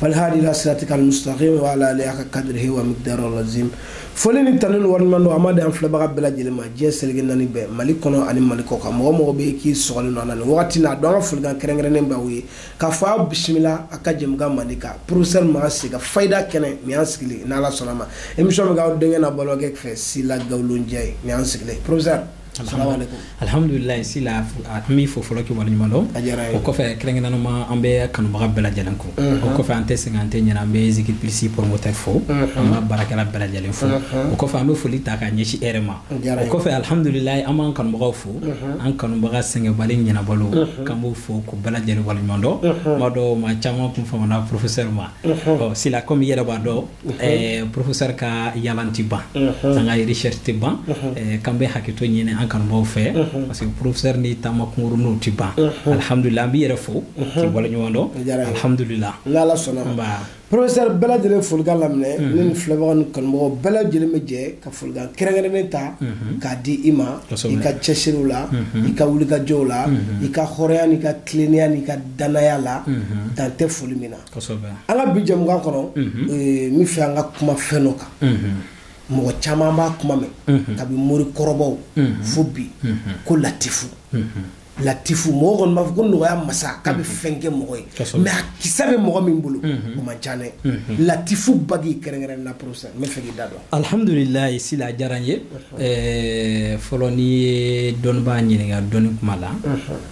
walhadi ila siratika almustaqim wa ala alihi haka kadrihi wa miqdari alazim foli ni tanu ni waleɲumandɔn an b'a d'an filɛbaga bɛɛ lajɛlen ma diɲɛ seleke naani bɛɛ mali kɔnɔ ani mali kɔ kan mɔgɔ o mɔgɔ bɛ k'i sɔgɔlen don a la nin wagati na a dɔn an ka folikan kɛrɛnkɛrɛnnen b'aw ye k'a fɔ aw bisimila a ka jɛmukan mandi kan professeur makan se ka fayida kɛnɛ nin y'an sigilen n'ala sɔnn'a ma émission bɛ k'aw denkɛ n'aw balimakɛ fɛ sila gawulonjɛ ye nin y'an sigilen professeur Alihamdulila sila an b'i fo fɔlɔ k'i waleɲuman dɔn o kɔfɛ kɛrɛnkɛrɛnnama an bɛ kanubaga bɛɛ lajɛlen kɔ o kɔfɛ an tɛ sɛgɛn an tɛ ɲina an bɛ zikiri plus promoteur fo an b'a baarakɛla bɛɛ lajɛlen fo o kɔfɛ an bɛ foli ta ka ɲɛsin e ma o kɔfɛ alihamdulila an b'an kanubagaw fo an kanubaga sɛgɛnbali ɲinabaliw k'an b'u fo k'u bɛɛ lajɛlen waleɲumandɔn n b'a dɔn maa caman tun famana professeur ma sila kɔmi i yɛrɛ b'a dɔn Eh, professeur ka yaala tɛ ban an ka recherche tɛ ban eh, k'an bɛ hakɛto ɲini an kanubaw fɛ parce que professeur ni taama kunkuruninw tɛ ban alhamdulillah an b'i yɛrɛ fo k'i waleɲuman dɔn alhamdulillah n'ala sɔnna professeur bɛɛ lajɛlen folikan laminɛ ne ni filɛbaga ni kanubagaw bɛɛ lajɛlen bɛ jɛ ka folikan kɛrɛnkɛrɛnnen ta k'a di i ma i ka cɛsiriw la i ka wulikajɔw la i ka hɔrɔnya n'i ka tilennenya n'i ka dannaya la dan tɛ foli min na an ka bi jɛmukan kɔnɔ n bɛ fɛ an ka kuma fɛn dɔ kan mɔgɔ caman b'a kuma mɛn kabi mori kɔrɔbaw fo bi ko latifu latifu mɔgɔ kɔni b'a fɔ ko nɔgɔya masa k'a bɛ fɛn kɛ mɔgɔ ye mɛ a kisɛ bɛ mɔgɔ min bolo o man ca dɛ latifu bagi kɛrɛnkɛrɛn na professeur n bɛ fɛ k'i da don alihamudulilayi sila diyara n ye fɔlɔ n'i ye dɔnnibaa ɲininka dɔnni kuma la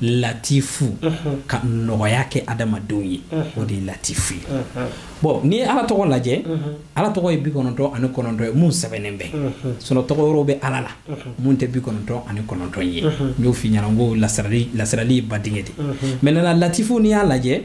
latifu ka nɔgɔya kɛ adamadenw ye o de ye latifu ye bɔn n'i ye ala tɔgɔ lajɛ ala tɔgɔ ye bi kɔnɔntɔn ani kɔnɔntɔn ye mun sɛbɛnnen bɛ sinon tɔgɔ wɛrɛ bɛ ala la mun tɛ bi kɔnɔntɔn ani kɔnɔntɔn ye n y'o f'i ɲɛna ko lasirali ye ba denkɛ de mɛ nana latifu n'i y'a lajɛ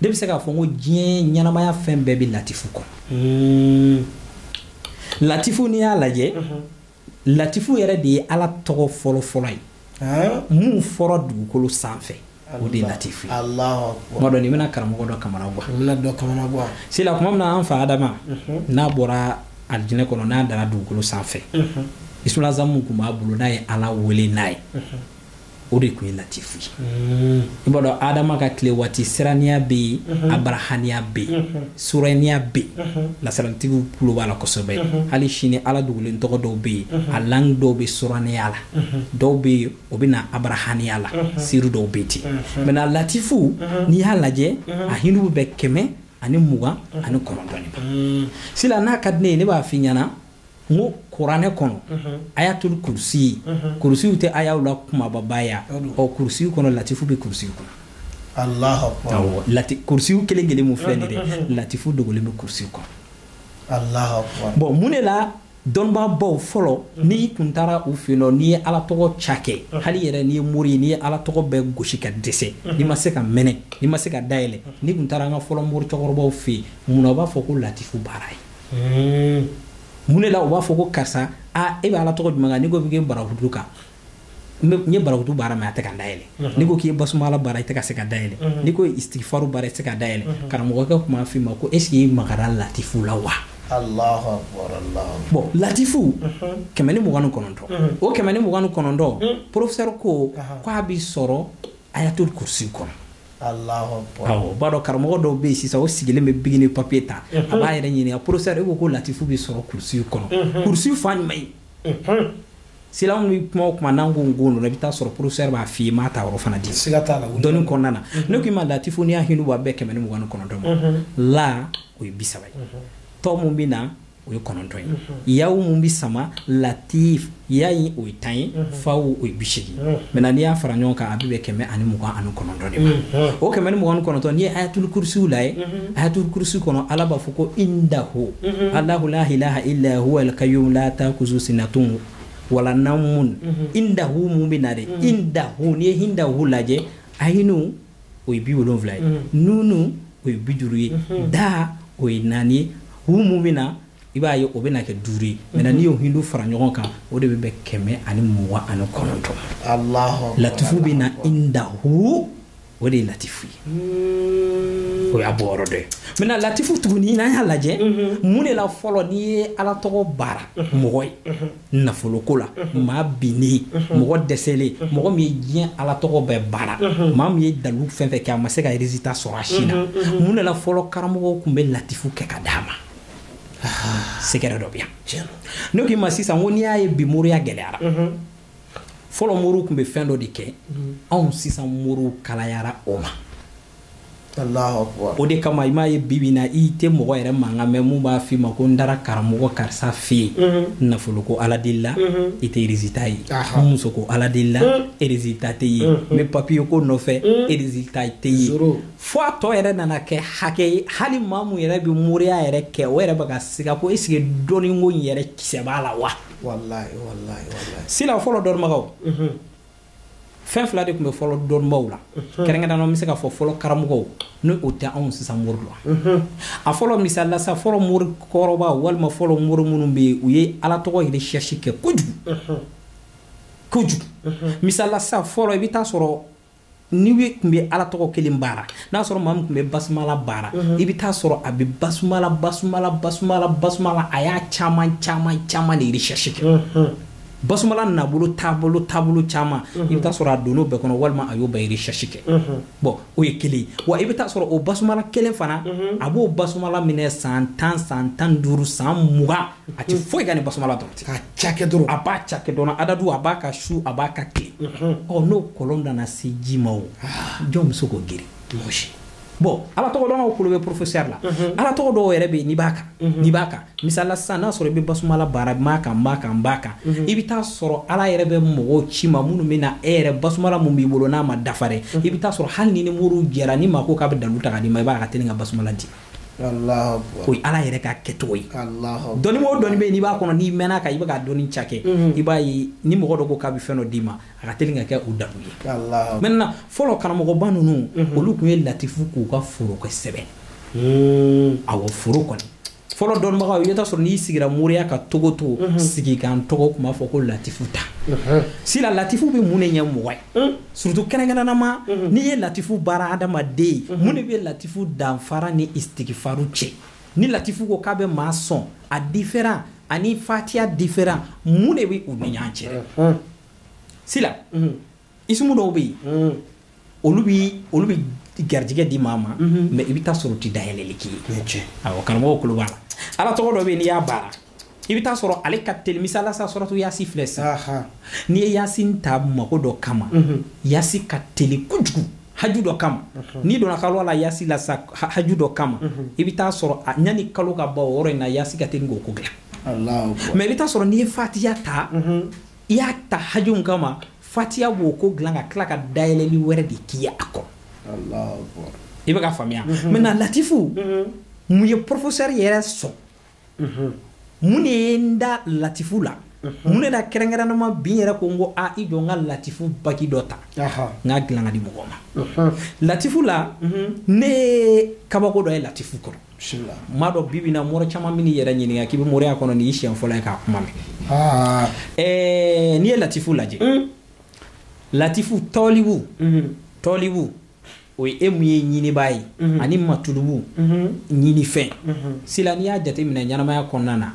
ne bɛ se k'a fɔ ko diɲɛ ɲɛnamaya fɛn bɛɛ bɛ latifu kɔnɔ hmm. latifu n'i y'a lajɛ mhm. latifu yɛrɛ de ye ala tɔgɔ fɔlɔfɔlɔ ye min fɔra dugukolo sanfɛ o de latifu n b'a dɔn nin bɛna karamɔgɔ dɔ kamanagan sila kuma min na an fa adama mhm. n'a bɔra alijinɛ kɔnɔ n'a dara dugukolo sanfɛ mhm. isulazamu tun b'a bolo n'a ye ala wele n'a ye o de tun ye latifu ye mm. i b'a dɔn adama ka tile waati siraniya bɛ yen mm-hmm. abarahaniya bɛ yen mm-hmm. suraniya bɛ yen mm-hmm. lasiraritigiw tulo b'a la kosɛbɛ hali sini ala dogolen tɔgɔ dɔw bɛ yen a langue dɔw bɛ suraniya la dɔw bɛ yen o bɛ na abarahaniya la siri dɔw bɛ ten maintenant latifu n'i y'a lajɛ a hindu bɛ bɛn kɛmɛ ani mugan ani kɔnɔntɔn de ma mm. sila n'a ka di ne ye ne b'a f'i ɲɛna n ko kuranɛ kɔnɔ ayatul kurusi kurusi o tɛ ayaw la kunbababa ye o kurusi kɔnɔ latifu bɛ kurusi kɔnɔ Allahu akbar awɔ lati kurusi kelen kelen mun filɛ nin ye dɛ latifu dogolen bɛ kurusi kɔnɔ Allahu akbar bon mun de la dɔnnibaabaw fɔlɔ mhm. n'i kun taara u fɛ yen nɔ n'i ye ala tɔgɔ ca kɛ mhm. hali yɛrɛ n'i ye mori ye n'i ye ala tɔgɔ bɛɛ gosi ka dɛsɛ mhm. n'i ma se ka mɛnɛ n'i ma se ka dayɛlɛ n'i kun taara an ka fɔlɔ mori cɛkɔrɔbaw fɛ yen munna u b'a fɔ ko latifu baara ye mun de la u b'a fɔ ko karisa a e bɛ ala tɔgɔ jumɛn kan n'i ko k'i bɛ barahutu kan n ye barahutu baara mais a tɛ ka dayɛlɛ n'i ko k'i ye basumala baara i tɛ ka se ka dayɛlɛ n'i ko istigifaru baara i tɛ se ka dayɛlɛ karamɔgɔkɛ tun b'a f'i ma ko est-ce que i magara latifu la wa bon latifu kɛmɛ ni mugan ni kɔnɔntɔn o kɛmɛ ni mugan ni kɔnɔntɔn porofesɛri ko k'a bɛ sɔrɔ ayatul kurusi kɔnɔ awɔ b'a dɔn karamɔgɔ dɔw bɛ yen sisan o sigilen bɛ biki ni papiye ta a b'a yɛrɛ ɲininka porofesɛri e ko ko latifu bɛ sɔrɔ kurusi kɔnɔ kurusi fan jumɛn ye silamɛw bɛ kuma o kuma n'an ko nko ninnu i bɛ taa sɔrɔ porofesɛri b'a f'i ye n b'a ta yɔrɔ fana di siga t'a la dɔnni kɔnɔna na ne k'i ma latifu n'i y'a hindu bɔ a bɛ bɛn kɛmɛ ni mugan ni kɔnɔntɔn ma la o ye bi saba ye tɔ mun bɛ na o ye kɔnɔntɔn ye yaw mun bɛ sama latif ya in o ye tan ye faw o ye bi seegin maintenant n'i y'a fara ɲɔgɔn kan a bɛ bɛn kɛmɛ ani mugan ani kɔnɔntɔn de ma o kɛmɛ ni mugan ni kɔnɔntɔn n'i ye ayatul kurusi lajɛ ayatul kurusi kɔnɔ ala b'a fɔ ko indahu Allahu la ilaha illa huwa al qayyum la ta'khudhuhu sinatun wala nawmun indahu mun bɛ na de indahu n'i ye indahu lajɛ ayinu o ye bi wolonwula ye nunu o ye bi duuru ye da o ye naani ye hu mun bɛ na i b'a ye o bɛ na kɛ duuru ye maintenant n'i y'o hindu fara ɲɔgɔn kan o de bɛ bɛn kɛmɛ ani mugan ani kɔnɔntɔn latifu bɛ na indahu o de ye latifu ye o y'a bɔ yɔrɔ dɔ ye maintenant latifu tuguni n'an y'a lajɛ mun de la fɔlɔ n'i ye ala tɔgɔ baara mɔgɔ ye nafoloko la maa binnen mɔgɔ dɛsɛlen mɔgɔ min ye diɲɛ ala tɔgɔ bɛɛ baara maa min ye dalu fɛn fɛn kɛ a ma se ka résultat sɔrɔ a si la mun de la fɔlɔ karamɔgɔw tun bɛ latifu kɛ ka d'a ma secret dɔ bɛ yan ne k'i ma sisan ko n'i y'a ye bi moriya gɛlɛyara fɔlɔ moriw tun bɛ fɛn dɔ de kɛ anw sisan moriw kalayara o ma o de kama i m'a ye bibi na i tɛ mɔgɔ yɛrɛ mankan mɛn mun b'a f'i ma ko n taara karamɔgɔ karisa fɛ yen mhm. nafolo ko ala deli la mhm. i tɛ erizita ye muso ko ala deli la mhm. erizita tɛ ye n bɛ papiye ko nɔfɛ erizita tɛ ye fo a tɔ yɛrɛ nana kɛ hakɛ ye hali maa mun yɛrɛ bɛ moriya yɛrɛ kɛ o yɛrɛ bɛ ka siga ko esike dɔnniko in yɛrɛ kisɛ b'a la wa sila fɔlɔ dɔnnibagaw fɛn fila de tun bɛ fɔlɔ dɔnbaaw la kɛrɛnkɛrɛnnenya la n bɛ se ka fɔ fɔlɔ karamɔgɔw ni o tɛ anw sisan mori la a fɔlɔ misali la sa fɔlɔ mori kɔrɔba walima fɔlɔ mori minnu bɛ yen u ye ala tɔgɔ recherche kɛ kojugu kojugu misali la sa fɔlɔ i bɛ taa sɔrɔ ni e tun bɛ ala tɔgɔ kelen baara n'a sɔrɔ maa min tun bɛ basumala baara i bɛ taa sɔrɔ a bɛ basumala basumala basumala basumala a y'a caman caman caman de recherche kɛ basumala nabolo taabolo taabolo caman mhm. i bɛ taa sɔrɔ a donn'o bɛɛ kɔnɔ walima a y'o bɛɛ recherche kɛ mhm. bon o ye kelen ye wa i bɛ taa sɔrɔ o basumala kelen fana mhm. a b'o basumala minɛ san tan san tan ni duuru san mugan a tɛ foyi kan ni basumala dɔrɔn tɛ a cakɛ dɔrɔn a b'a cakɛ dɔrɔn adadu a b'a kan su a b'a kan tile ɔ n'o kɔlɔn nana se ji ma o ah. jɔn bɛ se k'o geren mɔgɔ si bon ala tɔgɔ dɔnnaw kulo bɛ porofesɛri la mhm. ala tɔgɔ dɔw yɛrɛ bɛ yen n'i b'a kan mhm. n'i b'a kan misali la sisan n'a sɔrɔ i bɛ basumala baara n b'a kan n b'a kan n b'a kan mhm. i bɛ taa sɔrɔ ala yɛrɛ bɛ mɔgɔw ci i ma minnu bɛ na e yɛrɛ basumala mun b'i bolo n'a ma dafa dɛ i bɛ taa sɔrɔ hali n'i ni mori jɛra ni maa ko k'a bɛ dalu ta ka d'i ma i b'a ka teli ka basumala di o ye ala yɛrɛ ka kɛcogo ye dɔnni o dɔnni bɛ yen n'i b'a kɔnɔ n'i mɛnn'a kan i bɛ ka dɔnni cakɛ i b'a ye ni mɔgɔ dɔ ko k'a bɛ fɛn dɔ d'i ma a ka teli ka kɛ o dalu ye maintenant fɔlɔ karamɔgɔba ninnu mhm. olu tun ye latifu k'u ka foro kɛ sɛbɛn hmm. awɔ foro kɔni fɔlɔ dɔnnibagaw i bɛ taa sɔrɔ n'i sigira moriya ka togo togo mhm. sigikan tɔgɔ tun b'a fɔ ko latifu ta mhm. sila latifu bɛ mun de ɲɛ mɔgɔ ye hmm. surtout kɛrɛnkɛrɛnnama n'i ye latifu baara adamaden ye mun de bɛ latifu danfara ni istigifaru cɛ ni latifu ko k'a bɛ maa sɔn a diferan ani fatiya diferan mun de bɛ u ni ɲɔgɔn cɛ sila isimu dɔw bɛ yen olu bɛ olu bɛ garijɛgɛ di maa ma mɛ i bɛ taa sɔrɔ u tɛ dayɛlɛli k'i ye awɔ karamɔgɔw kulo b'a la ala tɔgɔ dɔ bɛ yen n'i y'a baara i bɛ taa sɔrɔ ale ka teli misali la sa suratu yasi filɛ sisan n'i ye yasi ta mago dɔ kama yasi ka teli kojugu haju dɔ kama n'i donna kaluwa la yasi la sa haju dɔ kama i bɛ taa sɔrɔ yanni kalo ka ban o yɔrɔ in na yasi ka teli k'o ko dilan mɛ i bɛ taa sɔrɔ n'i ye fatiya ta i y'a ta haju mun kama fatiya b'o ko dilan ka tila ka dayɛlɛli wɛrɛ de k'i ye a kɔ i bɛ ka faamuya mhm. maintenant latifu mhm. mun ye professeur yɛrɛ sɔn mhm. mun de ye n da latifu la mun de la kɛrɛnkɛrɛnnama bi n yɛrɛ ko n ko a i jɔ n ka latifu bague dɔ ta n k'a dilan ka di mɔgɔ ma latifu la ne ye kabako dɔ ye latifu kɔrɔ maa dɔ bi bi in na mori caman bɛn'i yɛrɛ ɲininka k'i bɛ moriya kɔnɔ nin y'i siɲɛ fɔlɔ ye k'a kuma mɛn ah. eh, n'i ye latifu lajɛ hmm. latifu tɔlibu hmm. tɔlibu o ye e mun ye ɲinibaa ye hmm. ani matulubu ɲinifɛn sila n'i y'a jateminɛ ɲɛnamaya kɔnɔna na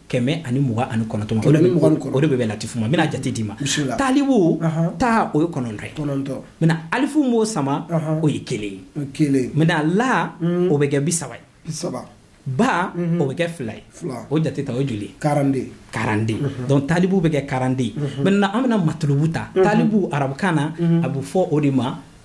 kɛmɛ ani mugan ani kɔnɔntɔn ma o de bɛ bɛn latifu ma n bɛna jate d'i ma talibu taa o ye kɔnɔntɔn ye kɔnɔntɔn maintenant alifu mun b'o sama o ye kelen ye kelen maintenant la o bɛ kɛ bi saba ye bi saba ba o bɛ kɛ fila ye o jate ta o ye joli quarante-deux quarante-deux donc talibu bɛ kɛ quarante-deux maintenant an bɛna matulubu ta talibu arabukan na a bɛ fɔ o de ma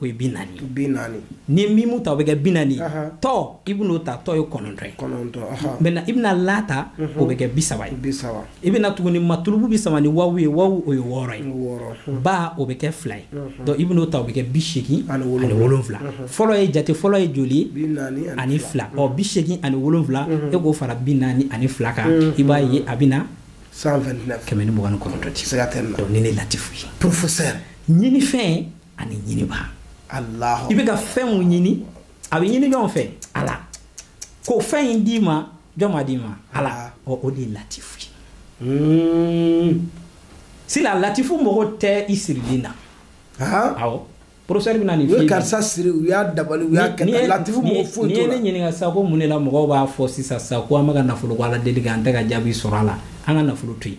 o ye bi naani bi naani ni mimu ta o bɛ kɛ bi naani tɔ i bɛn'o ta tɔ ye kɔnɔntɔn ye kɔnɔntɔn maintenant i bɛna la ta mhm. o bɛ kɛ bi saba ye bi saba i bɛna tuguni matulubu bɛ sama ni wawu ye wawu o ye wɔɔrɔ ye mhm. ba o bɛ kɛ fila ye mhm. donc i bɛn'o ta o bɛ kɛ bi seegin ani wolonwula fɔlɔ ye jate fɔlɔ ye joli ye ani fila ɔ bi seegin ani wolonwula e k'o fara bi naani ani fila kan i b'a ye a bɛna kɛmɛ ni mugan ni kɔnɔntɔn ti se ka tɛ nin de latifu ye professeur ɲinifɛn ani ɲinibaa i bɛ ka fɛn mun ɲini a bɛ ɲini jɔn fɛ ala k'o fɛn in d'i ma jɔn b'a d'i ma ala ɔ o de ye latifu ye hmm. sila latifu mago tɛ i sirilen na awɔ professeur bɛna nin f'i ye karisa siri u y'a dabali u y'a kɛ latifu mago foyi t'o la n'i ye ne ɲininka sisan ko mun de la mɔgɔw b'a fɔ sisan sisan ko an bɛ ka nafolo ko ala deli kɛ an tɛ ka jaabi sɔrɔ a la an ka nafolo to yen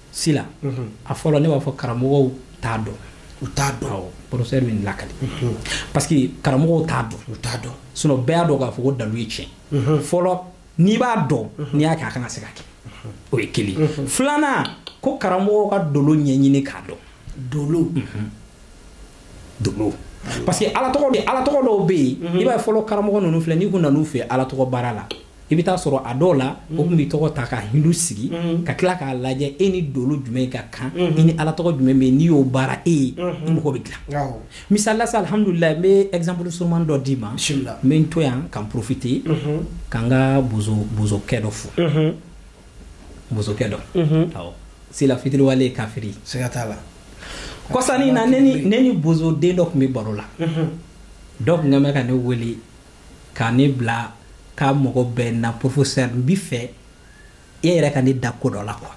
sila a fɔlɔ ne b'a fɔ karamɔgɔw t'a dɔn u t'a dɔn professeur bɛ nin lakali parce que karamɔgɔw t'a dɔn u t'a dɔn sinon bɛɛ y'a dɔn k'a fɔ ko dalilu ye tiɲɛ fɔlɔ n'i b'a dɔn n'i y'a kɛ a kan ka se ka kɛ o ye kelen filanan ko karamɔgɔw ka dolo ɲɛɲini k'a dɔn dolo dolo parce que ala tɔgɔ dɔw bɛ yen i b'a ye fɔlɔ karamɔgɔ ninnu filɛ n'i kun nan'u fɛ ala tɔgɔ baara la i bɛ taa sɔrɔ a dɔw la o tun bɛ tɔgɔ ta ka hindu sigi ka tila k'a lajɛ e ni dolo jumɛn ka kan i ni ala tɔgɔ jumɛn bɛn n'i y'o baara e ye i mago bɛ dilan misali la sa alihamdulilayi n bɛ exemple surunman dɔ d'i ma n bɛ n to yan ka profiter ka n ka bozokɛ dɔ fo bozokɛ dɔ sila fitiriwale ye kafiri siga t'a la kɔsa in na ne ni bozo den dɔ tun bɛ baro la dɔw tun ka ne wele ka ne bila k'a mɔgɔ bɛɛ na professeur n b'i fɛ e yɛrɛ ka ne da ko dɔ la quoi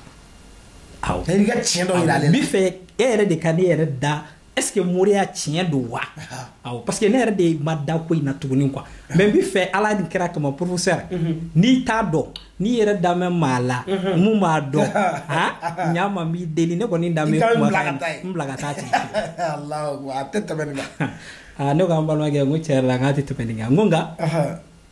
awɔ i ka tiɲɛ dɔ yira ale la n b'i fɛ e yɛrɛ de ka ne yɛrɛ da est ce que moriya tiɲɛ don wa awɔ parce que ne yɛrɛ de ma da ko in na tuguni quoi mais n b'i fɛ ala nin kira kama professeur mhm. n'i t'a dɔn n'i yɛrɛ damɛ maa la mhm. mun b'a dɔn han ɲa ma n b'i deli ne kɔni damɛ kuma n bila ka taa ten a tɛ tɛmɛ nin kan aa ne ko an balimakɛ n ko tiɲɛ yɛrɛ la k'a tɛ tɛmɛ nin kan n ko nka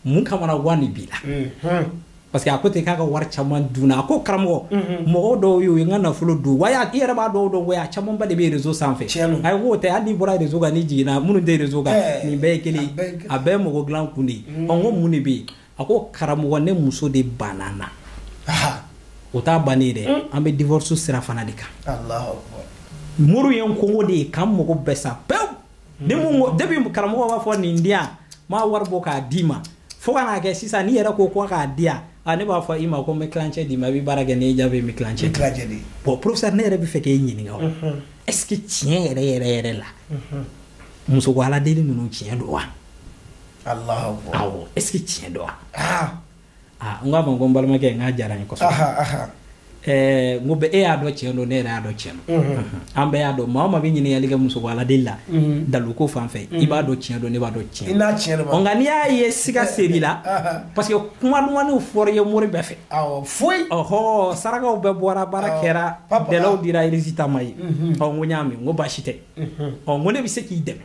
mun kamanagan de b'i la parce que a ko ten k'a ka wari caman dunna a ko karamɔgɔ mɔgɔw dɔw y'o ye n ka nafolo dun wa i yɛrɛ b'a dɔw dɔn wa a camanba de bɛ rezo sanfɛ a ye k'o tɛ hali n'i bɔra rezo kan n'i jiginna minnu tɛ rezo kan nin bɛɛ ye kelen a bɛɛ ye mɔgɔ dilan kun de ye ɔ n ko mun de bɛ yen a ko karamɔgɔ ne muso de banna n na o t'a bannen dɛ hmm. an bɛ divorce sira fana de kan muru ye n kongo de ye k'an mago bɛɛ sa pewu ni mun ko depuis karamɔgɔ b'a fɔ nin di yan n b'a wari bɔ k'a d'i ma fo ka n'a kɛ sisan n'i yɛrɛ ko ko k'a di yan a ne b'a fɔ i ma ko n bɛ tilancɛ d'i ma i bɛ baara kɛ n'i jaabi n bɛ tilancɛ di bon professeur ne yɛrɛ bɛ fɛ k'e ɲininka o est ce que tiɲɛ yɛrɛ yɛrɛ yɛrɛ la muso ko ala deli ninnu tiɲɛ don wa est ce que tiɲɛ don wa n k'a ma ko n balimakɛ n k'a diyara n ye kosɛbɛ n ko bɛ e y'a dɔn cɛn don ne yɛrɛ y'a dɔn cɛn don an bɛɛ y'a dɔn maa min bɛ ɲininkali kɛ muso ala deli dalu ko fan fɛ i b'a dɔn cɛn don ne b'a dɔn cɛn don nka n'i y'a ye siga ser'i la parce que kuma ɲumanw fɔra i ye mori bɛɛ fɛ foyi ɔɔ saraka bɛɛ bɔra baara kɛra délai dira résultat ma ye ɔ n ko n y'a mɛn n ko baasi tɛ ɔ n ko ne bɛ se k'i dɛmɛ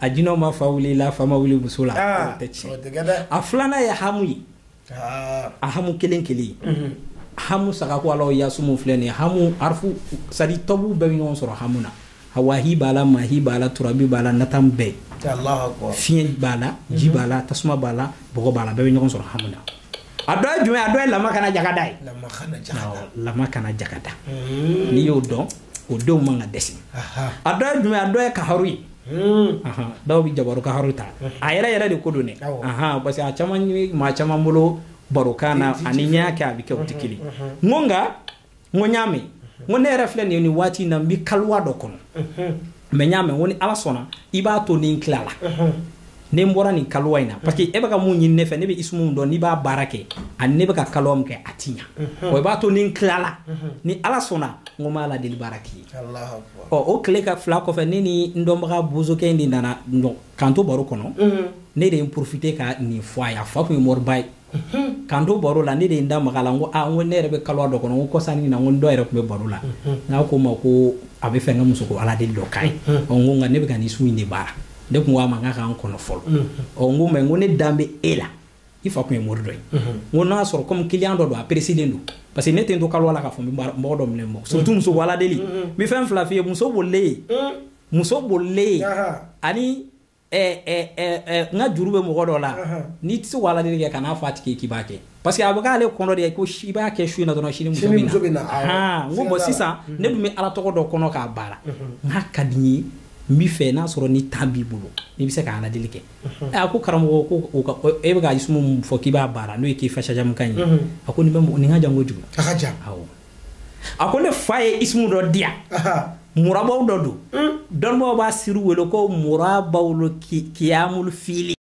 a jinɛw ma fa wuli la fa ma wuli muso la ah, tɛ tiɲɛ a filanan ye hamu ye ah. a hamu kelen kelen mhm. hamu sagako ala ya isumu filɛ nin hamu arfu sadi tɔbuw bɛɛ bɛ ɲɔgɔn sɔrɔ hamu na hawahi b'a la mahi b'a la turabi b'a la natan bɛɛ fiɲɛ b'a la ji mhm. b'a la tasuma b'a la bɔgɔ b'a la bɛɛ bɛ ɲɔgɔn sɔrɔ hamu na a dɔ ye jumɛn a dɔ ye lama kana jagada ye lama kana jagada mhm. n'i y'o dɔn o denw man ka dɛsɛ a dɔ ye jumɛn a dɔ ye kaharu ye Hmm. dɔw bɛ jabaru kaharu ta hmm. a yɛrɛ yɛrɛ de ko don dɛ parce que a caman maa caman bolo barokan na ani ɲɛ kɛ a bɛ kɛ o tɛ hmm, kelen n ko nka n ko n y'a mɛn n ko ne yɛrɛ filɛ nin ye nin waati in na n bɛ kaliwa dɔ kɔnɔ mɛ n y'a mɛn ko ni ala sɔnna i b'a to ni n tilala ne n bɔra nin kalowa in na parce que e bɛ ka min ɲini ne fɛ ne bɛ isumu min dɔn n'i b'a baara kɛ ani ne bɛ ka kalowa min kɛ a ti ɲa wa i b'a to ni n tilala ni ala sɔnna n ko n b'ala deli baara k'i ye ɔ o tile ka fila kɔfɛ ne ni n dɔnbaga bozokɛ in de nana k'an to baro kɔnɔ ne de ye n profiter ka nin fɔ a ye a fa tun ye moriba ye k'an to baro la ne de ye n da maga a la n ko aa n ko ne yɛrɛ bɛ kaluwa dɔ kɔnɔ n ko kɔsa in na n ko n dɔ yɛrɛ tun bɛ baro la n'a ko n ma ko a b'a fɛ n ka muso ko ala deli dɔ k'a ye ɔ n ko nka ne bɛ ka nin isumu in de baara ne tun ko a ma n k'a k'an kɔnɔ fɔlɔ ɔ n ko mais n ko ne dalen bɛ e la i fa tun ye mori dɔ ye n ko n'a y'a sɔrɔ kɔmi kiliyan dɔ don a peresilen don parce que ne tɛ n to kaluwa la k'a fɔ n bɛ mɔgɔ dɔ minɛ mɔgɔ surtout muso ko ala deli n bɛ fɛn fila f'i ye muso bolilen muso bolilen ani eh, eh, eh, eh, n ka juru bɛ mɔgɔ dɔ la n'i tɛ se ka aladeli kɛ kan'a fɔ a tigi k'i b'a kɛ parce que a bɛ k'ale kɔnɔ de ye ko i b'a kɛ su in na dɔrɔn sini muso Sini muso bɛ bɛ na, awɔ. Ahan, n ko Siga bon t'a la. sisan ne dun bɛ ala tɔgɔ dɔ kɔnɔ k'a baara nka a ka di n ye n b'a fɛ n'a sɔrɔ ni tan b'i bolo n'i bɛ se ka aladeli kɛ Ɛ, a ko karamɔgɔ ko o ka- o- e bɛ ka isumu min fɔ k'i b'a baara n'o ye k'i fasajamukan ye a ko nin bɛ mɔgɔ- nin ka jan kojugu a ka jan awɔ a ko ne fa ye isimu dɔ di yan murabaw dɔ don hmm. dɔnnibaw b'a siru wele ko murabaw lo kiyamul fili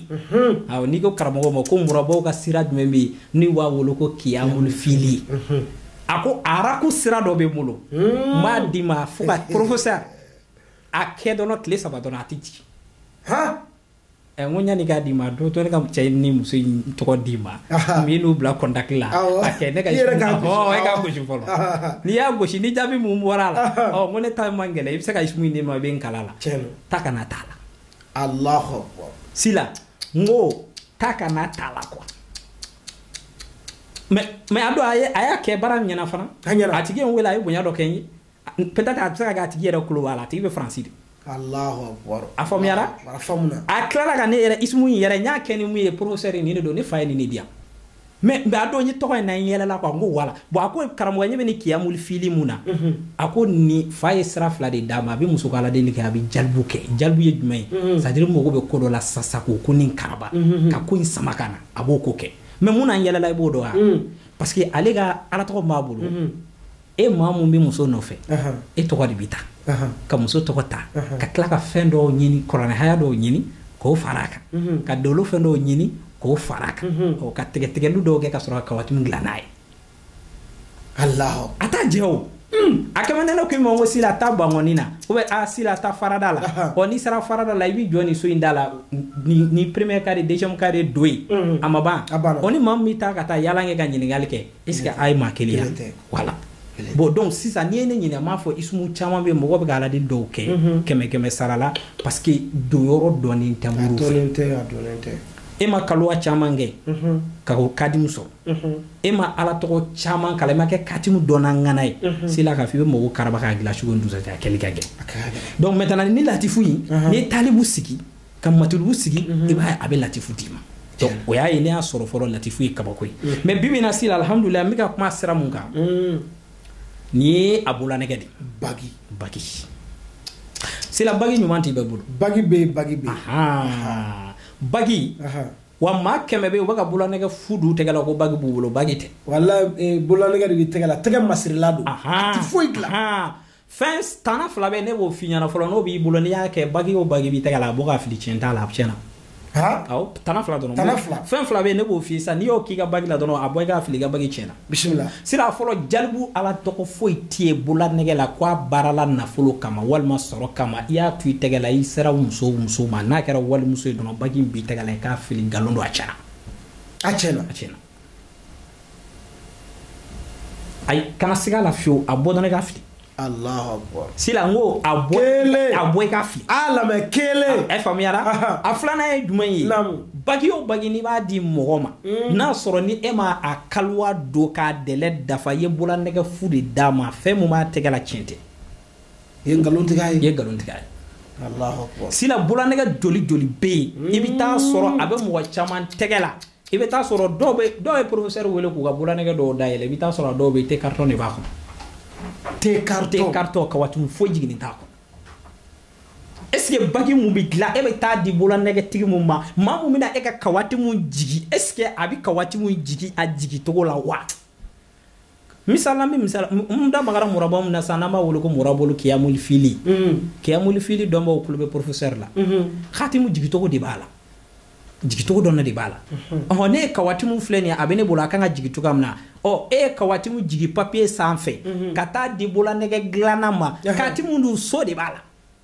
hmm. awɔ n'i ko karamɔgɔ ma ko murabaw ka sira jumɛn bɛ yen n'u b'a wele ko kiyamul fili hmm. a ko araku sira dɔ bɛ n bolo n b'a d'i ma fo ka professeur a kɛ dɔrɔn tile saba dɔrɔn a tɛ jigin Eh, n ko ɲani k'a di n ma dun to ne ka cɛ ni muso in tɔgɔ d'i ma n b'i n'u bila kɔntaki la a kɛ ne ka e k'a gosi fɔlɔ n'i y'a gosi ni jaabi mun bɔra a la ɔ n ko ne ta man gɛlɛn i bɛ se ka isimu di n ma i bɛ n kalan a la taa ka na t'a la alahu sila n ko taa ka na t'a la quoi mais mais a don a y'a kɛ baara ɲɛna fana a tigi ye n wele a ye bonya dɔ kɛ n ye peut-être a bɛ se ka kɛ a tigi yɛrɛ tulo b'a la a tigi bɛ faransi de a faamuyara a tilala ka ne yɛrɛ isimu in yɛrɛ n y'a kɛ ni mun ye professeur nin de don ne fa ye nin de di yan mais mais a don n ye tɔgɔ in na n yɛlɛla quoi n ko voilà bon a ko karamɔgɔ ɲɛ bɛ nin kiyamul fili mun na mhm. a ko nin fa ye sira fila de d'a ma a bɛ muso ko aladeli kɛ a bɛ jalibu kɛ jalibu ye jumɛn ye mhm. c'est-à-dire i mago bɛ ko dɔ la sasa k'o ko nin karaba mhm, ka ko in sama ka na a b'o ko kɛ mais mun na n yɛlɛla i b'o dɔn wa parce que ale ka alatɔgɔ b'a bolo e maa mun bɛ muso nɔfɛ e tɔgɔ de bɛ ta ka muso tɔgɔ ta ka tila ka fɛn dɔw ɲini kuranɛ haya dɔw ɲini k'o fara a kan mhm. ka dolo fɛn dɔw ɲini k'o fara a kan mhm. ka tigɛtigɛli dɔw kɛ ka sɔrɔ ka kawatimu dilan n'a ye a t'a jɛ o hmm. a comme ni ne k'i ma ko sila ta bankɔni na o bɛ sila ta farada la ɔ n'i sera farada la i b'i jɔ nin so in da la ni premier carré deuxième carré don ye mhm. a ma ban ɔ ni maa min bɛ taa ka taa yaala kɛ ka ɲininkali kɛ est ce que a ye maa kelen yan voilà bon donc sisan n'i ye ne ɲininka n b'a fɔ isumu caman bɛ mɔgɔ bɛ ka aladeli dɔw kɛ mhm. kɛmɛ kɛmɛ sara la parce que donyɔrɔ dɔnnen tɛ moriw fɛ e ma kaluwa caman kɛ mhm. ka o katimu sɔrɔ mhm. e ma ala tɔgɔ caman kalan i ma kɛ katimu dɔnna ŋana ye sela k'a fɔ i bɛ mɔgɔw karaba k'a gilan sugo ni dusajɛ a kɛli ka gɛlɛn donc maintenant ni latifu in n'i ye talibu sigi ka matulubu sigi mhm. i b'a a bɛ latifu d'i ma o y'a ye ne y'a sɔrɔ fɔlɔ latifu ye kabako ye mhm. mɛ bi bi in na sila alihamudulila n bɛ ka kuma sira mun kan mhm. nin ye a bolanɛgɛ de bagi bagi sila bagi ɲuman tɛ bɛɛ bolo bagi bɛ yen bagi bɛ yen bagi wa maa kɛmɛ bɛ yen u bɛ ka bolanɛgɛ fu don tɛgɛ la ko bagi b'u bolo bagi tɛ wala eh, bolanɛgɛ de bɛ tɛgɛ la tɛgɛ masirila don a tɛ foyi dilan fɛn tana fila bɛ ne b'o f'i ɲɛna fɔlɔ n'o b'i bolo n'i y'a kɛ bagi o bagi b'i tɛgɛ la a bɔ k'a fili tiɲɛ t'a la a tiɲɛna awɔ tana fila dɔrɔn tana fila fɛn fila bɛ yen ne b'o f'i sisan n'i y'o k'i ka bagi la dɔrɔn a bɔ i k'a fili i ka bagi tiɲɛna bisimila sira fɔlɔ jalibu ala tɔgɔ foyi tɛ yen bololanɛgɛ la ko a baarala nafolo kama walima sɔrɔ kama i y'a to i tɛgɛ la i sera muso muso ma n'a kɛra walimuso ye dɔrɔn bagi in b'i tɛgɛ la i k'a fili nkalon don a tiɲɛna a tiɲɛna a tiɲɛna ayi kana siga a la fiyewu a bɔ dɔrɔn i k'a fili sila n ko a bɔ a bɔ i k'a fili a lamɛn kelen ɛ faamuyara a filanan ye jumɛn ye bagi o bagi n'i b'a di mɔgɔ ma mm. n'a sɔrɔ ni e ma a kaliwa don k'a dɛlɛ dafa i ye bololanɛgɛ fu de d'a ma fɛn min b'a tɛgɛ la tiɲɛ tɛ i ye nkalon tigɛ a ye i ye nkalon tigɛ a ye sila bololanɛgɛ joli joli bɛ yen i bɛ taa sɔrɔ a bɛ mɔgɔ caman tɛgɛ la i bɛ taa sɔrɔ dɔw bɛ dɔw ye professeur wele k'u ka bolanɛgɛ dɔw dayɛlɛ i bɛ taa sɔrɔ dɔw bɛ te carton de b'a kɔnɔ te carton te carton kawatimu foyi jiginnen t'a kɔnɔ est ce que bagi mun bɛ dilan e bɛ taa di bolanɛgɛtigi mun ma maa mun bɛna e ka kawatimu jigi est ce que a bɛ kawatimu jigi a jigi cogo la wa misala min misala n da magara muraba min na sisan n'an b'a wele ko murabolu kiyamuli fili mm. kiyamuli fili dɔnbaaw kolo bɛ professeur la mm-hmm. katimu jigi cogo de b'a la jigi cogo dɔnna de b'a la mm-hmm. ɔhɔ ne ye kawatimu filɛ nin ye a bɛ ne bolo a kan ka jigi cogoya min na ɔ e ye kawatimu jigi papiye sanfɛ mm-hmm. ka taa di bololanɛgɛ dilanna ma katimu dun so de b'a la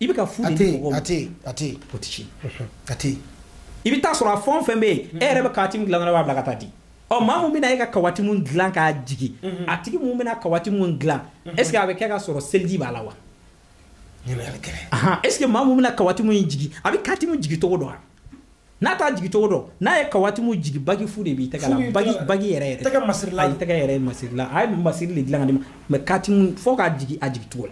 i bɛ ka fu de di mɔgɔw ma a tɛ yen a tɛ yen o tɛ tiɲɛ a tɛ yen i bɛ taa sɔrɔ a fɛn o fɛn bɛ yen e yɛrɛ bɛ kawatimu dilan dɔrɔn i b'a bila ka taa di ɔ maa mun bɛna e ka kawatimu dilan k'a jigin a tigi mun bɛna kawatimu dilan est ce que a bɛ kɛ ka sɔrɔ seliji b'a la wa est ce que maa mun bɛna kawatimu jigin a bɛ katimu jigin cogo dɔn wa n'a t'a jigi cogo dɔn n'a ye kawatimu jigi bagi fu de b'i tɛgɛ la bagi bagi yɛrɛ yɛrɛ tɛgɛ masirila a ye tɛgɛ yɛrɛ masirila a ye masiri de dilan ka d'i ma mɛ katimu fo k'a jigi a jigi cogo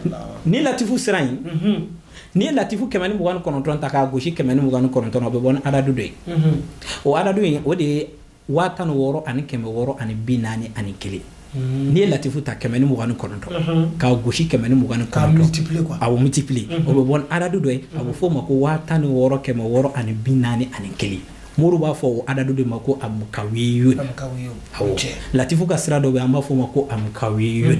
la ni latifu sira ye mhm. n'i ye latifu kɛmɛ ni mugan ni kɔnɔntɔn ta k'a gosi kɛmɛ ni mugan ni kɔnɔntɔn o bɛ bɔ ni adadu dɔ ye mhm. o adadu in o de ye waa tan wɔɔrɔ ani kɛmɛ wɔɔrɔ ani bi naani ani kelen hmm. n'i ye latifu ta kɛmɛ ni mugan ni kɔnɔntɔn hmm. k'a gosi kɛmɛ ni mugan ni kɔnɔntɔn a bɛ multiplier hmm. o bɛ bɔ ni adadu dɔ ye a bɛ f'o ma ko waa tan ni wɔɔrɔ kɛmɛ wɔɔrɔ ani bi naani ani kelen mori b'a fɔ o adadu de ma ko amukawiyun awɔ latifu ka sira dɔ bɛ an b'a fɔ o ma ko amukawiyun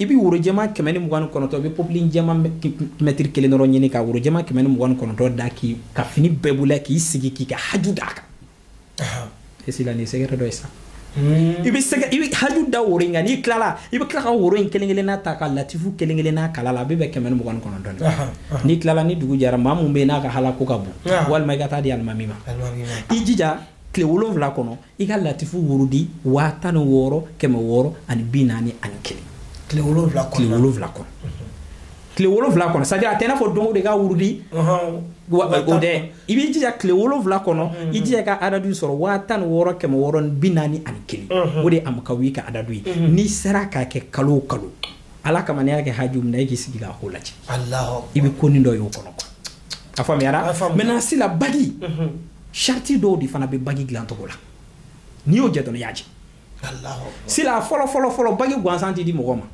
i bɛ worojɛma kɛmɛ ni mugan ni kɔnɔntɔn i bɛ popilin jɛma mɛtiri kelen dɔrɔn ɲini ka worojɛma kɛmɛ ni mugan ni kɔnɔntɔn da k'i ka fini bɛɛ bolo k'i sigi k'i ka haju d'a kan esi la nin secret dɔ ye sa hmm. i bɛ sɛgɛ i bɛ haju da woro in kan n'i tilala i bɛ tila ka woro in kelen kelenna ta ka latifu kelen kelenna kalan a la a bɛ bɛn kɛmɛ ni mugan ni kɔnɔntɔn de n'i tilala ni dugu jɛra maa mun bɛ yen n'a ka alako ka bon walima i ka taa di alimami ma i jija tile wolonwula kɔnɔ i ka latifu wurudi waa tan ni wɔɔrɔ kɛmɛ wɔɔrɔ ani bi naani ani kelen tile wolonwula kɔnɔ tile wolonwula kɔnɔ tile wolonwula kɔnɔ c'est à dire a tɛ n'a fɔ don o de ka wurudi o dɛ i b'i jija tile wolonwula kɔnɔ mm-hmm. i jija ka adadu sɔrɔ waa tan ni wɔɔrɔ kɛmɛ wɔɔrɔ ni bi naani ani kelen mm-hmm. o de ye amakawi ka adadu ye mm-hmm. n'i sera k'a kɛ kalo o kalo ala kama n'i y'a kɛ haju min na i k'i sigi k'a ko lajɛ i bɛ ko nin dɔ y'o kɔnɔ a faamuyara maintenant sila bagi mhm. sarati dɔw de fana bɛ bagi dilan cogo la n'i y'o jɛ dɔrɔn i y'a jɛ sila fɔlɔ fɔlɔ fɔlɔ bagi gansan tɛ di mɔgɔ ma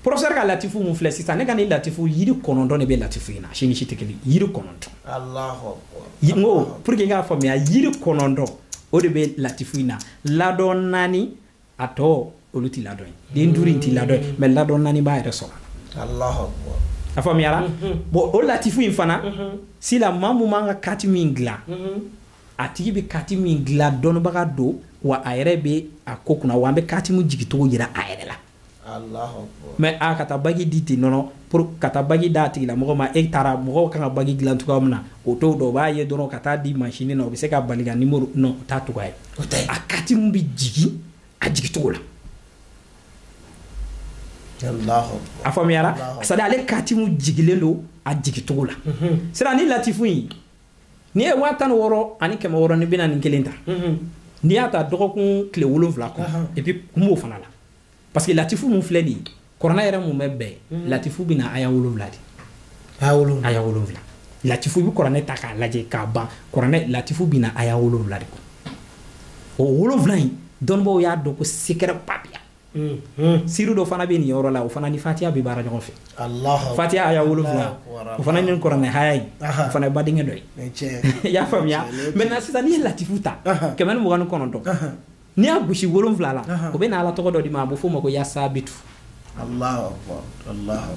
professeur ka latifu mun filɛ sisan ne ka nin latifu yiri kɔnɔntɔn de bɛ latifu in na si ni si tɛ kelen yiri kɔnɔntɔn n ko pour que i k'a faamuya yiri kɔnɔntɔn o de bɛ latifu in na ladɔn naani a tɔ olu tɛ ladɔn ye dɛ duuru in tɛ ladɔn ye mais ladɔn naani b'a yɛrɛ sɔrɔ a faamuyara mhm. bon o latifu in fana mhm. sila maa mun b'an ka katimi dilan mhm. a tigi bɛ katimi dilan dɔnnibaga don wa a yɛrɛ bɛ a ko kunna wa an bɛ katimi jigicogo yira a yɛrɛ la mais a ka taa bagi di ten non non pour ka taa bagi d'a tigilamɔgɔ ma e taara mɔgɔw kan ka bagi dilan cogoya min na o t'o dɔn o b'a ye dɔrɔn ka taa di mansini na o bɛ se ka bali ka nimoro non o t'a cogoya ye o tɛ a katimi bɛ jigin a jigicogo la a faamuyara c'est à dire ale katimi jigilen don a jigicogo la sira ni latifu in n'i ye waa tan ni wɔɔrɔ ani kɛmɛ wɔɔrɔ ni bi naani kelen ta n'i y'a ta dɔgɔkun tile wolonwula kɔnɔ et puis kun b'o fana la parce que latifu mun filɛ nin ye kuranɛ yɛrɛ mun bɛ bɛn mhm. latifu bɛ na aya wolonwula de aya wolonwula aya wolonwula latifu i bɛ kuranɛ ta k'a lajɛ k'a ban kuranɛ latifu bɛ na aya wolonwula de kɔnɔ o wolonwula in dɔnnibaaw y'a dɔn ko secret ba bɛ yan mhm. siri dɔ fana bɛ nin yɔrɔ la o fana ni fatiya bɛ baara ɲɔgɔn fɛ fatiya aya wolonwula o fana ni kuranɛ aya in o fana ye badenkɛ dɔ ye i y'a faamuya maintenant sisan n'i ye latifu ta kɛmɛ ni mugan ni kɔnɔntɔn n'i y'a gosi wolonwula la o bɛ na ala tɔgɔ dɔ d'i ma a bɛ f'o ma ko ya sabitu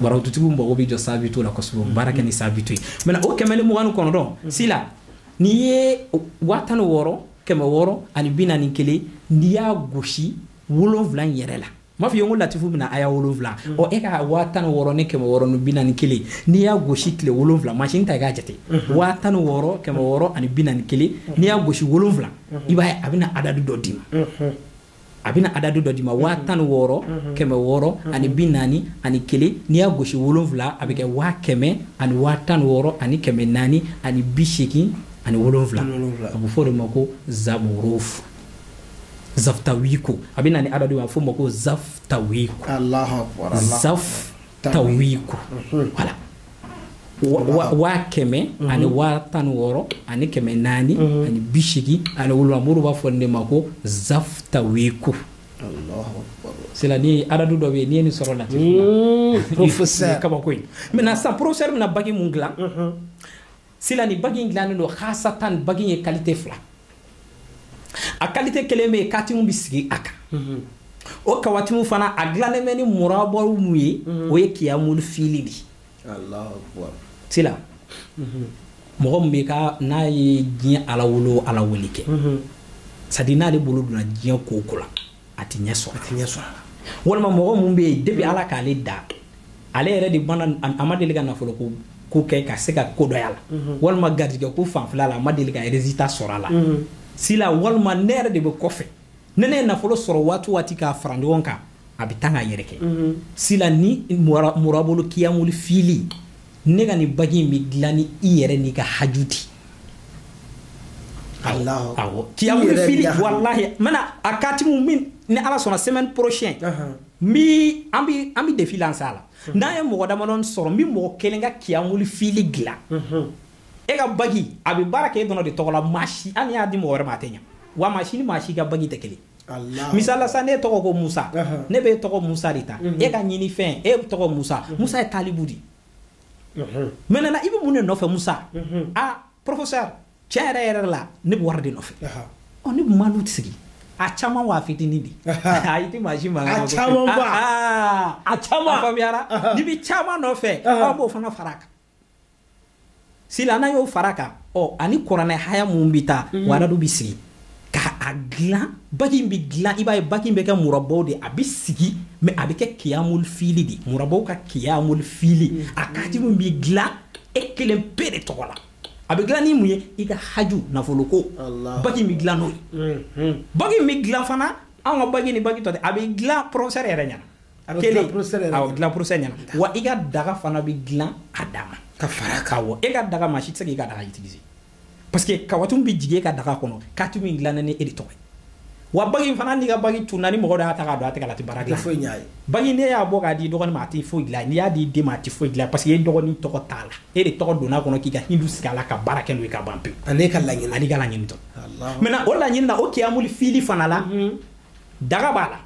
barawututigiw mago bɛ jɔ sabitu la kosɛbɛ baara kɛ ni sabitu ye mais o kɛmɛ ni mugan ni kɔnɔntɔn mm. sila n'i ye waa tan ni wɔɔrɔ kɛmɛ wɔɔrɔ ani bi naani kelen n'i y'a gosi wolonwula in yɛrɛ la m'a f'i ye ko latifu bɛ na aya wolonwula mm. ɔ e ka waa tan ni wɔɔrɔ ni kɛmɛ wɔɔrɔ ni bi naani kelen n'i y'a gosi tile wolonwula mansin ta i k'a jate mm-hmm. waa tan ni wɔɔrɔ kɛmɛ wɔɔrɔ ani bi naani kelen mm-hmm. n'i y'a gosi wolonwula mm-hmm. i b'a ye a bɛna adadu dɔ d'i ma a bɛna adadu dɔ d'i ma waa tan ni wɔɔrɔ kɛmɛ wɔɔrɔ ani bi naani ani kelen n'i y'a gosi wolonwula a bɛ kɛ waa kɛmɛ ani waa tan ni wɔɔrɔ ani kɛmɛ naani ani bi seegin ani wolonwula a bɛ fɔ o de ma ko zaburufu zafutawiko a bɛ na ni adadu ye a fɔ ma ko zafutawiko zafutawiko voilà waa kɛmɛ mhm. ani waa tan ni wɔɔrɔ ani kɛmɛ naani mhm. ani bi seegin ani wolonwula mori b'a fɔ nin de ma ko zafutawiko c'est là ni adadu dɔ bɛ yen n'i ye nin sɔrɔ lati mm, kabako ye maintenant sisan professeur bɛna bagi mun dilan mhm. c'est là ni bagi in dilannen don hasatan bagi ye qualité fila a qualité kelen bɛ yen katimu bɛ sigi a kan mhm. o kawatimu fana a dilannen bɛ ni murabaw mun ye mhm. o ye kiyamul fili de c'est là mhm. mɔgɔ min bɛ ka n'a ye diɲɛ alawolo alawuli kɛ c'est-à-dire n'ale bolo donna diɲɛ ko o ko la a tɛ ɲɛ sɔrɔ a tɛ ɲɛ sɔrɔ a la walima mɔgɔ mun bɛ yen depuis ala k'ale da ale yɛrɛ de bana a ma deli ka nafolo ko ko kɛ ka se ka ko dɔ y'a la mhm. walima garijɛgɛ ko fanfɛla la a ma deli ka résultat sɔrɔ a la mhm. c'est là walima ne yɛrɛ de bɛ kɔfɛ ni ne ye nafolo sɔrɔ waati o waati k'a fara ɲɔgɔn kan a bɛ taa ka yɛrɛkɛ mhm. c'est là ni murabolo kiyamuli fili ne ka nin bagi in bɛ dilan ni i yɛrɛ n'i ka haju di awɔ kiyamul fili walahi n bɛna a katimu min ni ala sɔnna semaine prochaine mi an bi an bi défi lancer a la n'an ye mɔgɔ damadɔni sɔrɔ n bɛ mɔgɔ kelen ka kiyamuli fili dilan e ka bagi a bɛ baara kɛ e dɔrɔn de tɔgɔ la maa si hali n'i y'a di mɔgɔ wɛrɛ ma a tɛ ɲa wa maa si ni maa si ka bagi tɛ kelen misali la sa ne tɔgɔ ko musa ne bɛ tɔgɔ musa de ta e ka ɲini fɛn e tɔgɔ musa musa ye talibu di maintenant i bɛ mun de nɔfɛ musa a professeur tiɲɛ yɛrɛ yɛrɛ la ne bɛ wari de nɔfɛ ɔ ne bɛ malu sigi a caman wa fitinin di ayi tɛ maa si mankan a caman ba a caman faamuyara n'i bɛ caman nɔfɛ aw b'o fana fara a kan c'est là n'a y'o fara a kan ɔ ani kuranɛ aya mun bɛ taa mhm. o adadu bɛ sigi ka a dilan bagi bɛ dilan i b'a ye bagi bɛ kɛ murabaw de a bɛ sigi mais a bɛ kɛ kiyamul fili de murabaw ka kiyamul fili mhm. a katimu bɛ dilan e kelen pe de tɔgɔ la a bɛ dilan ni mun ye i ka haju nafoloko bagi bɛ dilan n'o ye mhm. bagi bɛ dilan fana an ka bagi ni bagi tɔ tɛ a bɛ dilan professeur yɛrɛ ɲɛna a bɛ dilan professeur yɛrɛ awɔ dilan professeur ɲɛna wa i ka daga fana bɛ dilan a dama ka fara kan wa e ka daga maa si tɛ se k'i ka daga utiliser parce que kawatumu bɛ jigin e ka daga kɔnɔ katimu dilannen ni e de tɔgɔ ye wa bagi fana n'i ka bagi tunna ni mɔgɔ dɔ y'a ta k'a don a tɛgɛ la a tɛ baara dilan foyi ɲ'a ye bagi n'i y'a bɔ k'a di dɔgɔnin ma a tɛ foyi dilan n'i y'a di den ma a tɛ foyi dilan parce que e dɔgɔnin tɔgɔ t'a la e de tɔgɔ donna a kɔnɔ k'i ka hindu sigi a la ka baara kɛ n'o ye ka ban pewu ani ka laɲini ani ka laɲini tɔ maintenant o laɲini na o kiyamuli fili fana la daga b'a la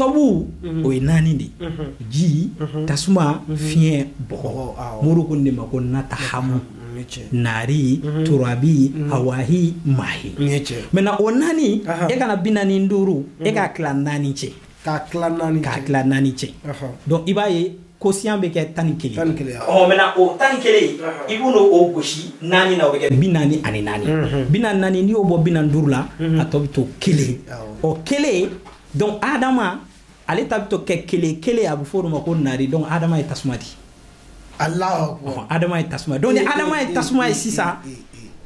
Tɔbu o ye naani de ji tasuma fiɲɛ bɔgɔ moriw k'o de ma ko natahamu nari turabi hawahi maahi maintenant o naani e ka na bi naani duuru e k'a tila naani cɛ k'a tila naani cɛ donc i b'a ye quotient bɛ kɛ tan ni kelen maintenant o tan ni kelen i bɛna o gosi naani na o bɛ kɛ bi naani ani naani bi naani naani n'i y'o bɔ bi duuru la a tɔ bɛ to kelen o kelen donc adama ale ta bɛ to kɛ kelen kelen a bɛ fɔ o ma ko nari donc adama ye tasuma de alahu akbar adama ye tasuma donc ni adama ye tasuma ye sisan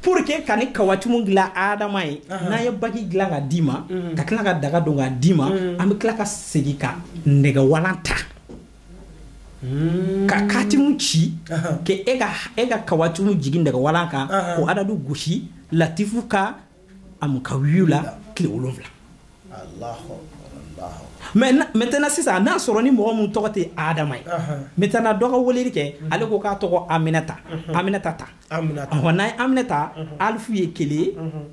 pour que ka nin kawatumu dilan adama ye n'an ye bagi dilan ka d'i ma mm. ka tila ka daga don ka d'i ma mm. an bɛ tila ka segin ka nɛgɛwalan ta mm. ka katimu ci k'e ka e ka kawatumu jigin nɛgɛwalan kan k'o adadu gosi latifu ka amu kawiyu la tile wolonwula maintenant sisan n'a sɔrɔ ni mɔgɔ min tɔgɔ tɛ adama ye maintenant dɔ ka weleli kɛ ale ko k'a tɔgɔ aminata aminata ta ɔ n'a ye aminata alifu ye kelen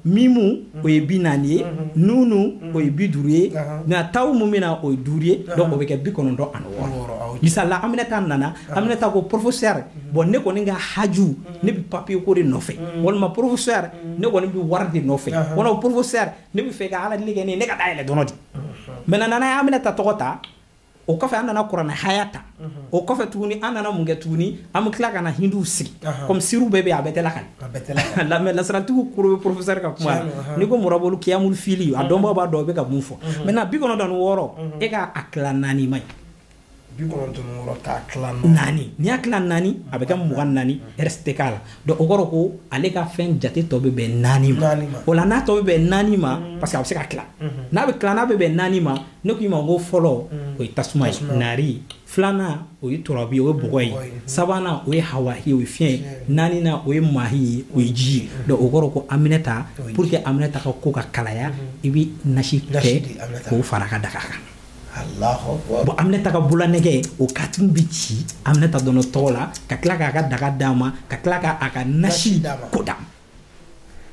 mimu o ye bi naani ye nunu o ye bi duuru ye nka tawu min bɛ na o ye duuru ye donc o bɛ kɛ bi kɔnɔntɔn ani wɔɔrɔ misali la aminata nana aminata ko professeur bon ne kɔni ka haju ne bɛ papier ko de nɔfɛ walima professeur ne kɔni bɛ wari de nɔfɛ walima professeur ne bɛ fɛ ka ala deli kɛ ne ka dayɛlɛ dɔrɔn de maintenant n'an ye aminata tɔgɔ ta o kɔfɛ an nana kuranɛ aya ta o kɔfɛ tuguni an nana mun kɛ tuguni an bɛ tila ka na hindu sigi comme siriw bɛɛ bɛ yen a bɛɛ tɛ lakali mais lasaratigiw tulo bɛ professeur ka kuma la n'i ko murabolu kiyamuli fili a dɔnbaaw b'a dɔn o bɛ ka mun fɔ maintenant bi kɔnɔntɔn wɔɔrɔ e k'a tila naani ma ye bi kɔnɔntɔn ni wɔɔrɔ k'a tila naani n'i y'a tila naani a bɛ kɛ mugan naani reste tɛ k'a la donc o kɔrɔ ko ale ka fɛn jate tɔ bɛ bɛn naani ma Naani ma. o la n'a tɔ bɛ bɛn naani ma parce que a bɛ se ka tila n'a bɛ tila n'a bɛ bɛn naani ma ne k'i ma ko fɔlɔ o ye tasuma ye Tasuma. nari filanan o ye turabi ye o ye bɔgɔ Bɔgɔ ye ye. sabanan o ye hawa ye o ye fiɲɛ ye Fiɲɛ. naaninan o ye maahi ye o ye ji ye donc o kɔrɔ ko aminata O ye ji. pour que aminata ka ko ka kalaya i bɛ nasi Nasi kɛ di Aminata. k'o fara a ka daga kan bon aminata ka bolanɛgɛ o katimu bɛ ci aminata dɔrɔn tɔgɔ la ka tila k'a ka daga d'a ma ka tila ka a ka nasi ko d'a ma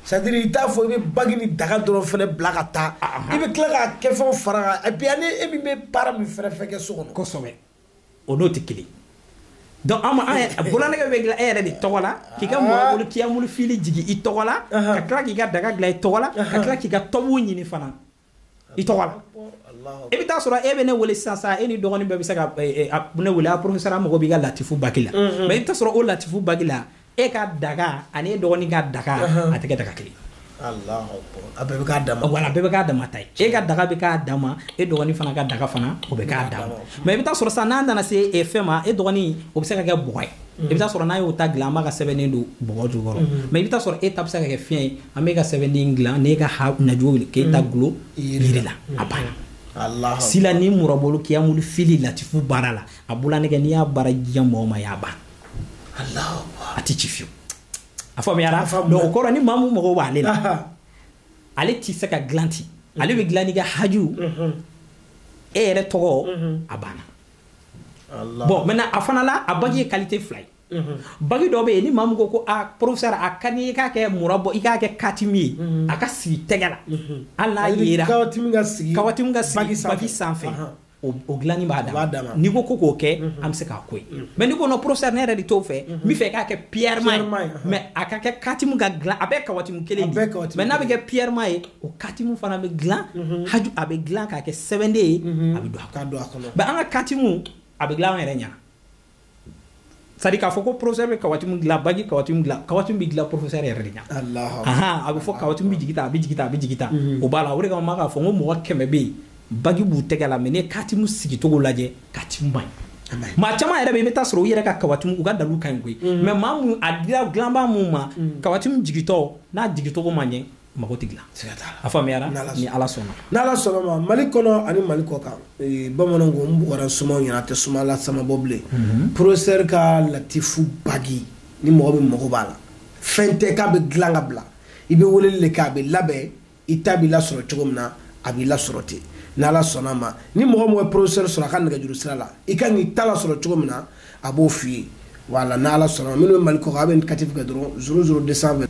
c'est-à-dire i t'a fɔ i bɛ bagi ni daga dɔrɔn fɛnɛ bila ka taa i bɛ tila k'a kɛ fɛnw fara kan et puis ani e min bɛ baara min fɛnɛ fɛn kɛ so kɔnɔ kosɛbɛ o n'o tɛ kelen donc an ma an yɛrɛ bolanɛgɛ bɛ dilan e yɛrɛ de tɔgɔ la k'i ka mɔgɔ bolo kiyamulu fili jigin i tɔgɔ la ka tila k'i ka daga dilan i tɔgɔ la ka tila k'i ka tɔbuw ɲini fana i tɔgɔ la i bɛ taa sɔrɔ e bɛ ne wele sisan sa e ni dɔgɔnin bɛɛ bɛ se ka eh, eh, ne wele a professeur mago b'i ka latifu bagi la mm-hmm. mais i bɛ taa sɔrɔ o latifu bagi la e ka daga ani e dɔgɔnin ka daga uh-huh. a tɛ kɛ daga kelen a bɛɛ bɛ k'a dama voilà a bɛɛ bɛ k'a dama ta ye e ka daga bɛ k'a dama e dɔgɔnin fana ka daga fana o bɛ k'a dama mais i bɛ taa sɔrɔ sisan n'a nana se eh, fɛn ma e dɔgɔnin o bɛ se ka kɛ bɔgɔ ye mm-hmm. i bɛ taa sɔrɔ n'a y'o ta dilan an b'a ka sɛbɛnden don bɔgɔ jukɔrɔ mm-hmm. mais i bɛ taa sɔrɔ e ta bɛ se ka kɛ fiɲɛ ye an b'e ka sɛbɛnden dilan n'e ka ha najugu k'e ta mm. dulon yiri la a banna mm. sila ni murabolo kiyamulu fili latifu baara la a bolanɛgɛ n'i y'a baara di mɔgɔ ma y'a ban a tɛ ci fiyewu a faamuyara donc o kɔrɔ ni maa mun mago b'ale la ale tɛ se ka dilan ten ale bɛ dilan n'i ka haju mm-hmm. e yɛrɛ tɔgɔ mm-hmm. a banna bon maintenant a fana la a bagi ye qualité fila ye Mhm. bagi dɔ bɛ yen ni maa min ko ko a ah, professeur a ka di i k'a kɛ muraba i k'a kɛ katimu ye mhm. a ka sigi tɛgɛ la mhm. hali n'a yera kawatimu ka sigi kawatimu ka sigi bagi sanfɛ o dilanni b'a dama n'i ko ko k'o kɛ an bɛ se k'a k'o ye mais n'i ko non professeur ne yɛrɛ de t'o fɛ n b'a fɛ k'a kɛ piyɛrɛma ye mais a ka kɛ katimu ka dilan a bɛɛ kawatimu kelen de mais n'a bɛ kɛ piyɛrɛma ye o katimu fana bɛ dilan haju a bɛ dilan k'a kɛ sɛbɛnden ye a bɛ don a kɔnɔ mais an ka katimu a bɛ dilan an yɛrɛ ɲɛna c'est-à-dire k'a fɔ ko professeur bɛ kawatimu dilan bagi kawatimu dilan kawatimu bɛ dilan professeur yɛrɛ de ɲɛna ahan a bɛ fɔ kawatimu bɛ jigin tan a bɛ jigin tan a bɛ jigin tan mhm. o b'a la o de kama n bɛ k'a fɔ n ko mɔgɔ kɛmɛ bɛ yen bagi b'u tɛgɛ la mais n'i katimu sigicogo lajɛ katimu man ɲi maa caman yɛrɛ bɛ yen i bɛ taa sɔrɔ u yɛrɛ ka kawatimu u ka dalilu ka ɲi koyi mais mhm. maa mun a dila dilanbaa mun ma mhm. kawatimu jigintɔ n'a jigincogo ma ɲɛ mago tɛ dilan a faamuyara ni ala sɔnna ni ala sɔnna ma mali kɔnɔ ani mali kɔ kan bamananw ko n bugɔra sumaw ɲɛna tɛ suma la sama bɔ bilen mhm. professeur ka latifu bagi ni mɔgɔ bɛ mago b'a la fɛn tɛ k'a bɛ dilan ka bila i bɛ weleli de kɛ a bɛ labɛn i ta b'i lasɔrɔ cogo min na a b'i lasɔrɔ ten n'ala sɔnna ma ni mɔgɔ mɔgɔ ye professeur sɔrɔ a ka nɛgɛjuru sira la i ka kan k'i ta lasɔrɔ cogo min na a b'o f'i ye voilà n'ala sɔnna minnu bɛ mali kɔ kan a bɛ indicatif kɛ dɔrɔn zéro zéro 220